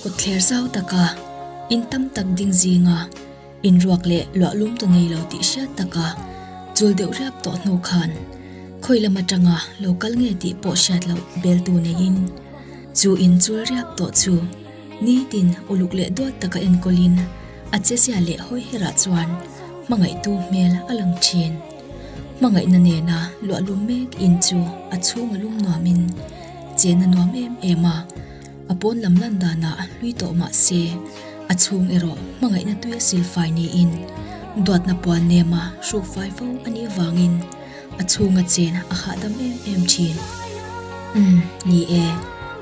Kawtthler zau taka, in tam tak ding zinga, in ruak leh luah lum ta nei lo tih hriat taka chul deuh riap tawh hnu khan khawi lam atanga lo kal nge tih pawh hriat loh bel tu neiin chu in chul riap tawh chu nitin uluk leh duat taka enkawlin a che zia leh hawi herah chuan hmangaihtu hmel a lang thin. Hmangaihna nena luahlum mek in chu a chhung a lum nuam in chen a nuam em em a, a pawn lam lan dan ah hlui tawh mah se a chhung erawh hmangaihna tuia sil fai ni in duatna puan nem a hruk fai fo a nih avang in a chhung a chen a hahdam em em thin. Umm ni e,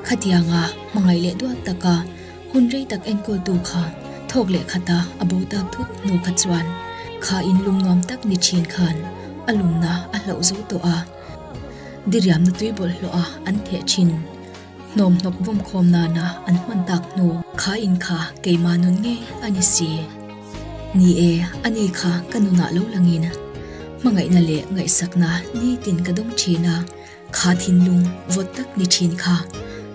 khatiang a hmangaih leh duak tak a. Hun rei tak enkawltu kha thawk leh khata a bo ta phut hnu kha chuan kha in lum nuam tak ni thin khan a lumna a hloh zo tawh a, diriamna tuibawlh hlawh a an theh thin. Hnawm hnawk vawm khawm nana an hman tak hnu kha in kha keimah nun ngei a ni si. Ni e, ani kha ka nunah lo langin hmangaihna leh ngaihsakna nitin ka dawng thin a. Kha thinlung vawt tak ni thin kha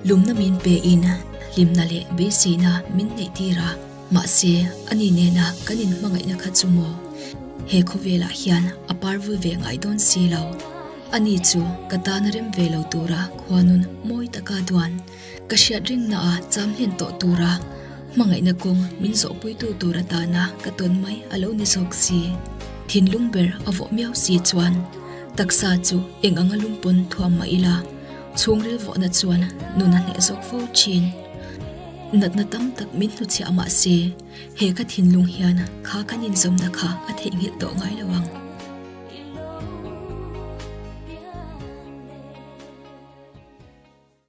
lumna min pe in hlimna leh beiseina min neih tir a, mahse a ni nena kan in hmangaihna kha chu maw he khawvelah hian a par vui ve ngai dawn si lo. A ni chu ka tana rem ve lo tura khuanun mawi taka duan. Ka hriat rinna ah cham hlen tawh tur a hmangaihna kawng min zawh puitu tur atana ka tawn mai a lo ni zawk si. Thinlung ber a vawh miau si chuan taksa chu eng anga lumpawn thuam mah ila chhung rilvawhna chuan nun a hneh zawk fo thin. Natna tam tak min hnu chhiah mah se, he ka thinlung hian kha kan inzawmna kha a theih nghilh tawh ngai lo ang.